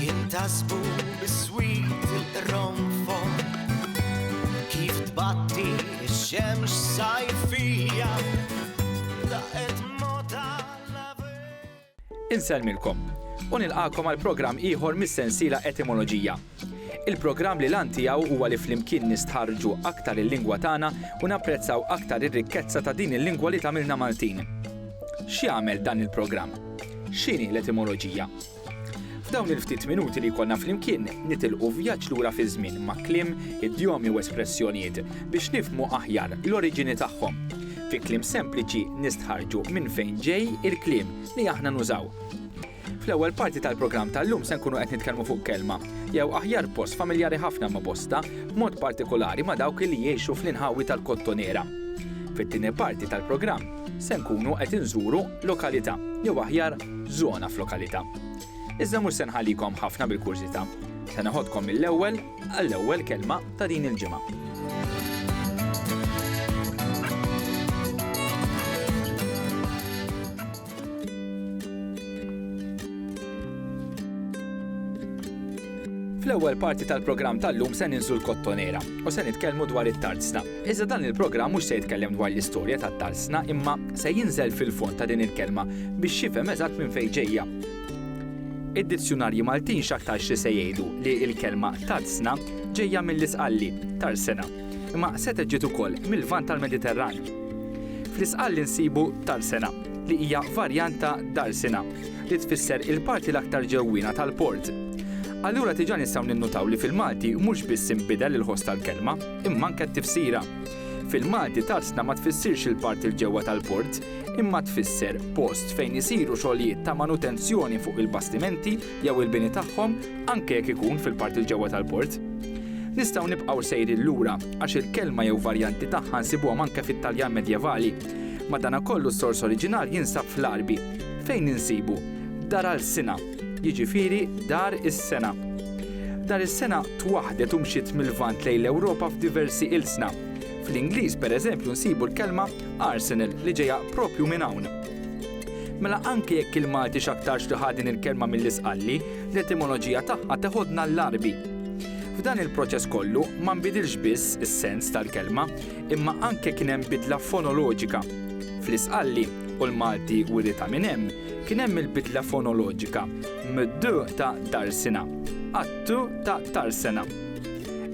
Jintasbu biswit il-qronfon Kif tbatti x-xemx sajfija Daqet mota l-avej Insellmilkom u nilqakom għal programm ieħor mis-sensiela Etimoloġija. Il-programm li l-għan tiegħu huwa li flimkien nistħarrġu aktar il-lingwa tagħna u napprezzaw aktar ir-rikkezza ta' din il-lingwa li tagħmilna Maltin. X'jagħmel dan il-programm? X'inhi l-etimoloġija? F'dawn il-ftit minuti li jkollna flimkien nitilqu vjaġġ lura fiż-żmien ma' kliem, idjomi u espressjonijiet biex nifhmu aħjar l-oriġini tagħhom. Fi kliem sempliċi nistħarrġu minn fejn ġej il-kliem li aħna nużaw. Fl-ewwel parti tal-programm tal-lum se nkunu qed nitkellmu fuq kelma, jew aħjar post familjari ħafna ma' bosta, b'mod partikolari ma' dawk li jgħixu fl-inħawi tal-Kottonera. Fit-tieni parti tal-programm se nkunu qed inżuru lokalità, jew aħjar żona f'lokalità. Iżda mhux se nħallikom ħafna bil-kurżità. Se neħodkom mill-ewwel għall-ewwel kelma ta' din il-ġimgħa. Fl-ewwel parti tal-programm tal-lum se ninżlu l-kottonera u se nitkellmu dwar it-tarzna. Iżda dan il-programm mhux se jitkellem dwar l-istorja tat-tarzna imma se jinżel fil-fond ta' din il-kelma biex jifhem eżatt minn fejn ġejja. Id-dizzjunarji Maltin x'aktarx li se jgħidu li l-kelma tarzna ġejja mill-Isqalli, tarsena. imma setgħet ġiet ukoll mil-Lvant tal-Mediterran. Fl-Isqalli nsibu Tarsena, li hija varjant ta' Darsina, li tfisser il-parti l-aktar ġewwiena tal-port. Allura diġà nistgħu ninnutaw li fil-Malti mhux biss inbidel il-ħoss tal-kelma, imma anke t-tifsira. Fil-Malti Tarsna ma tfissirx il-parti l-ġewwa tal-port, imma tfisser post fejn isiru xogħlijiet ta' manutenzjoni fuq il-bastimenti jew il-bini tagħhom anke jekk ikun fil-parti 'l ġewwa tal-port. Nistgħu nibqgħu sejrin lura għax il-kelma jew varjanti tagħha nsibuhom anke fit-Taljan Medjevali. Madanakollu s-sors oriġinali jinsab fl-Għarbi, fejn insibu dar alsina, jiġifieri dar is-sena. Dar is-sena twaħħdet u mxiet mil-Lvant lejn l-Ewropa f'diversi ilsna. Fl-Ingliż, pereżempju, nsibu l-kelma arsenal li ġejja proprju minn hawn. Mela anke jekk il-Malti x'aktarx li ħa din il-kelma mill-Isqalli, l-etimoloġija tagħha teħodna l-Għarbi. F'dan il-proċess kollu ma nbidilx biss is-sens tal-kelma, imma anke kien hemm bidla fonoloġika. Fl-Isqalli, u l-Malti wiritha minn hemm, kien hemm il-bidla fonoloġika mid-d ta' Darsina għat-t ta' Tarsena.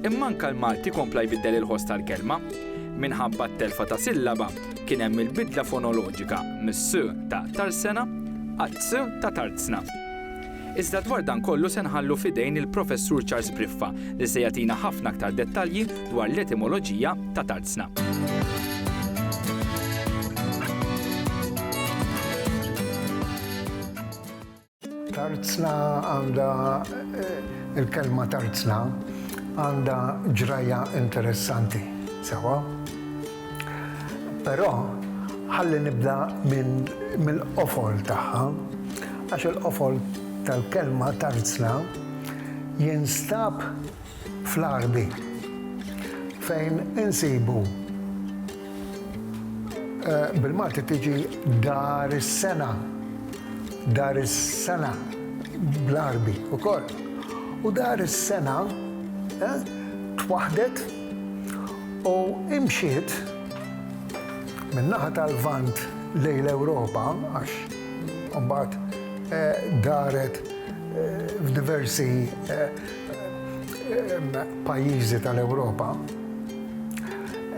Imma anke l-Malti kompla jbiddel il-ħoss tal-kelma minħabba t-telfa ta' sillaba kien hemm il-bidla fonoloġika mis-s ta' Tarsena għat-s ta' Tarzna. Iżda dwar dan kollu se nħallu f'idejn il-Professur Charles Briffa li se jagħtina ħafna aktar dettalji dwar l-etimoloġija ta' Tarzna. Tarzna għandha il-kelma tarzna għandha ġrajja interessanti, sewwa? Però ħalli nibda minn mill-qofol tagħha għax il-qofol tal-kelma tarzna jinstab fl-ardi fejn insibu bil-Malti tiġi dar is-sena, dar is-sena bl-Għarbi ukoll. U dar is-sena twaħħdet u imxiet min-naħa tal-Lvant lejn l-Ewropa għax imbagħad daret f'diversi pajjiżi tal-Ewropa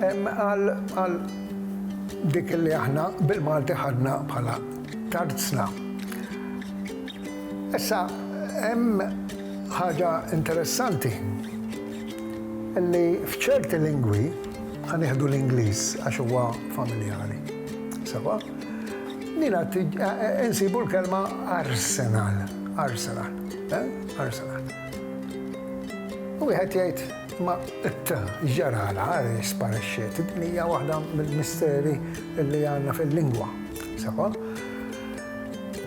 għal dik li aħna bil-Malti ħadna bħala tarzna. Issa hemm ħaġa interessanti li f'ċerti lingwi, ħa nieħdu l-Ingliż għax huwa familjari, sewwa, insibu l-kelma arsenal, arsenal. Ħarsana. U wieħed jgħid ma ġarala għal sparixxiet, din hija waħda mill-misteri li għandna fil-lingwa. Sewa?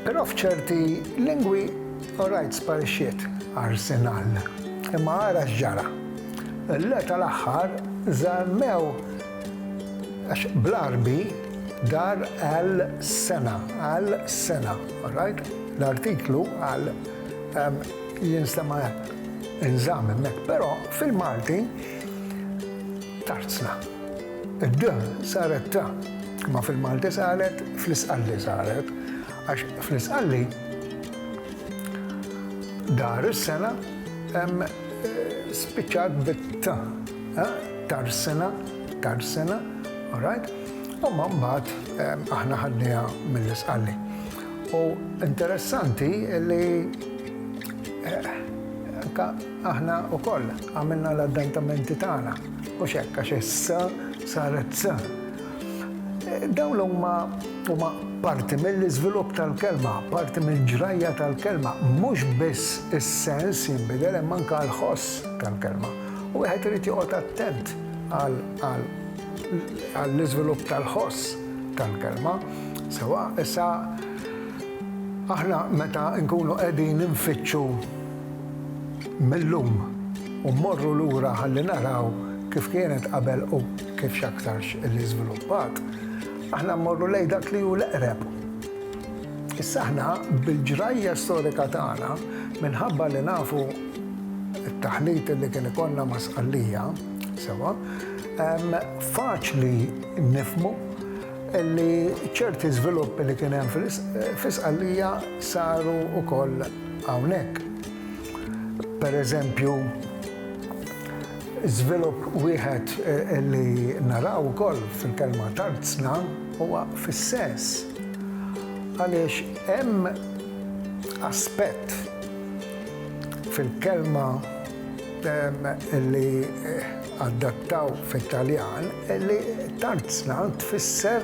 Però f'ċerti lingwi orajt sparixxiet arsenal. Imma ara x'ġara. Le tal-aħħar żammew għax bl-Għarbi dar għal sena, għal sena, orajt? L-artiklu għal Jinstema' inżamm hemmhekk, però fil-Malti tarzna. Id-d saret ta, imma fil-Malti saret fl-Isqalli saret, għax fl-Isqalli dar is-sena spiċċat bit-t, tarsina, tarsina, all right? Imma mbagħad aħna ħadnieha mill-Isqalli. U interessanti li anke aħna wkoll għamilna l-addentamenti tagħna, mhux hekk għax is-s saret z. Dawn huma huma parti mill-iżvilupp tal-kelma, parti mill-ġrajja tal-kelma, mhux biss is-sens jinbidel imma anke l-ħoss tal-kelma. U wieħed irid joqgħod attent għal għall-iżvilupp tal-ħoss tal-kelma sewwa. Issa, aħna meta nkunu qegħdin infittxu mil-lum u mmorru lura ħalli naraw kif kienet qabel u kif x'aktarx li żviluppat, aħna mmorru lejn dak li hu l-eqreb. Issa aħna bil-ġrajja storika tagħna, minħabba li nafu t-taħlit li kien ikollna ma' Sqallija sewwa, Faċli nifhmu li ċerti żviluppi li kien hemm fi Sqallija saru wkoll hawnhekk. Pereżempju, żvilupp wieħed li naraw ukoll fil-kelma tarzna huwa fis-sess, għaliex hemm aspett fil-kelma li, Adattaw fit-Taljan li tarzna tfisser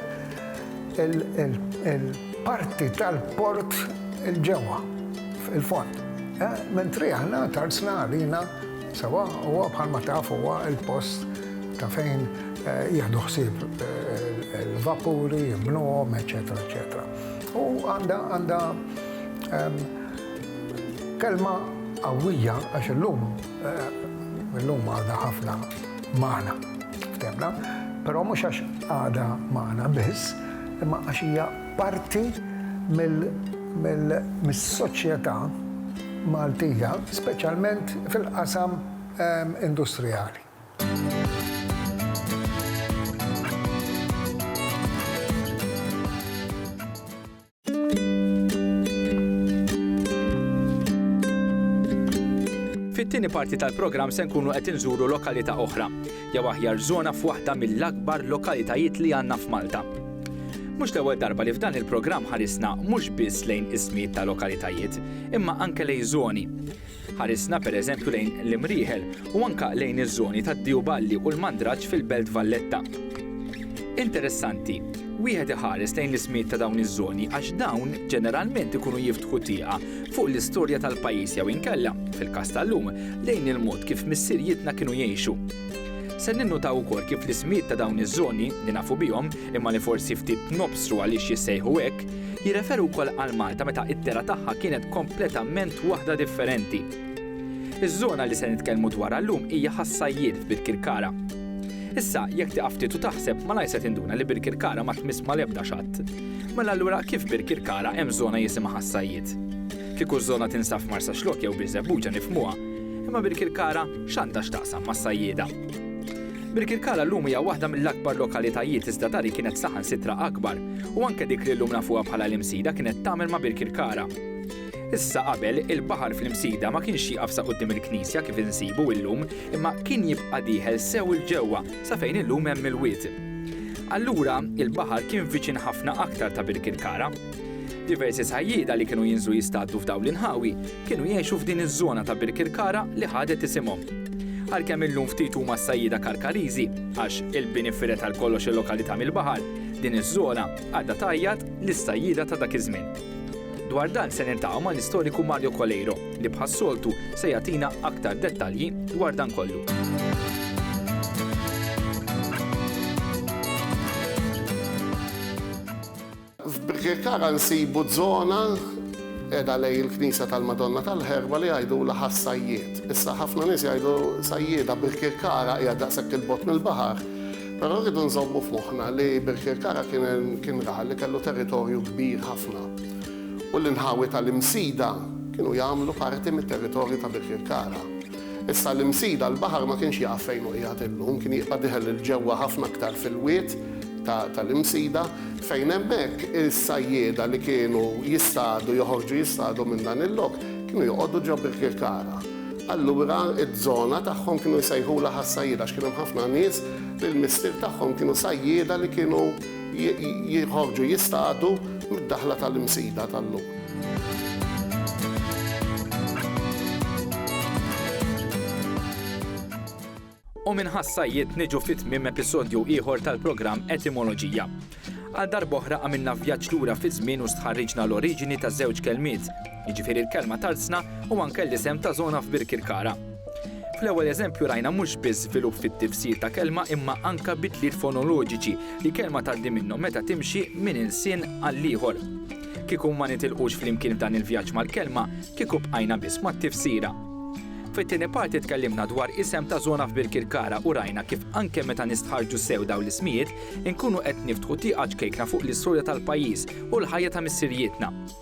il-parti tal-port 'il ġewwa, 'il fond. Mentri aħna tarzna għalina sewwa huwa bħalma taf huwa l-post ta' fejn jieħdu ħsieb il-vapuri, jibnuhom, eċċetera eċċetera. U għandha għandha kelma qawwija għax illum. Illum għadha ħafna magħna, ftemna, però mhux għax għadha magħna biss, imma għax hija parti mis-soċjetà Maltija, speċjalment fil-qasam industrijali. Fit-tieni parti tal-programm se nkunu qed inżuru lokalità oħra, jew aħjar żona f'waħda mill-akbar lokalitajiet li għandna f'Malta. Mhux l-ewwel darba li f'dan il-programm ħarisna mhux biss lejn ismijiet ta' lokalitajiet, imma anke lejn żoni. Ħarisna pereżempju lejn l-imrieħel u anke lejn iż-żoni tad-Diew Balli u l-Mandraġġ fil-Belt Valletta. Interessanti, wieħed iħares lejn l-ismijiet ta' dawn iż-żoni għax dawn ġeneralment ikunu jiftħu tieqa fuq l-istorja tal-pajjiż jew inkella, fil-każ tal-lum, lejn il-mod kif missirijietna kienu jgħixu. Se ninnutaw ukoll kif l-ismijiet ta' dawn iż-żoni, li nafu bihom, imma li forsi ftit nobsru għaliex jissejħu hekk, Jirreferu wkoll għal Malta meta id-dehra tagħha kienet kompletament waħda differenti. Iż-żona li se nitkellmu dwarha llum hija ħas-Sajjied f'Birkirkara. Issa, jekk tieqaf ftit u taħseb, malajr se tinduna li Birkirkara ma tmiss mal-ebda xatt. Mela allura kif Birkirkara hemm żona jisimha ħas-Sajjied? Kieku ż-żona tinsab f'Marsaxlokk jew Birżebbuġa nifhmuha, imma Birkirkara x'għandha x'taqsam mas-sajjieda? Birkirkara llum hija waħda mill-akbar lokalitajiet iżda dar hi kienet saħansitra akbar u anke dik li llum nafuha bħala l-Imsida kienet tagħmel ma' Birkirkara. Issa qabel, il-baħar fl-Imsida ma kienx jieqaf sa quddiem il-knisja kif insibu illum imma kien jibqa' dieħel sew 'il ġewwa sa fejn illum hemm il-wied. Allura, il-baħar kien viċin ħafna aktar ta' Birkirkara. Diversi sajjieda li kienu jinżlu jistaddu f'dawn l-inħawi kienu jgħixu f'din iż-żona ta' Birkirkara li ħadet isimhom. Għalkemm illum ftit huma s-sajjieda Karkariżi, għax il-bini fired għal kollox il-lokalità mill-baħar, din iż-żona għadha tgħajjat lis-sajjieda ta' dak iż-żmien. Dwar dan se niltaqgħu mal-istoriku Mario Coleiro li bħas-soltu se jagħtina aktar dettalji dwar dan kollu. F'Birkirkara nsibu żona qiegħda lejn il-Knisja tal-Madonna tal-Ħerba li jgħidulha Ħas-Sajjied. Issa ħafna nies jgħidu Sajjieda, Birkirkara hija daqshekk 'il bogħod mill-baħar, però rridu nżommu f'moħħna li Birkirkara kien raħal li kellu territorju kbir ħafna u l-inħawi tal-Imsida kienu jagħmlu parti mit-territorju ta' Birkirkara. Issa l-Imsida, l-baħar ma kienx jaf fejn hu qiegħed illum, kien jibqa' deħel 'il ġewwa ħafna aktar fil-wied ta' tal-Imsida, fejn hemmhekk is-sajjieda li kienu jistadu, joħorġu jistadu minn dan il-lok, kienu joqogħdu ġo Birkirkara. Allura z-zona tagħhom kienu jsejħulha ħas-sajjieda għax kien hemm ħafna nies li l-missier tagħhom kienu sajjieda li kienu, jinħorġu jistadu mid-daħla tal-Imsida tal-lum. U minn ħassajjiet niġu fi tmiem episodju ieħor tal-programm Etimoloġija. Għal darb'oħra għamilna vjaġġ lura fi żmien u stħarriġna l-oriġini ta' żewġ kelmiet, jiġifieri l-kelma Tarzna u anke l-isem ta' żona f'Birkirkara. Fl-ewwel eżempju rajna mhux biss żvilupp fit-tifsir ta' kelma imma anke bidliet fonoloġiċi li kelma tgħaddi minnhom meta timxi minn ilsien għall-ieħor. Kieku ma nitilqux flimkien f'dan il-vjaġġ mal-kelma, kieku bqajna biss mat-tifsira. Fit-tieni parti tkellimna dwar isem ta' żona f'Birkirkara u rajna kif anke meta nistħarrġu sew dawn l-ismijiet, inkunu qed niftħu tieqa ċkejkna fuq l-istorja tal-pajjiż u l-ħajja ta' missirijietna.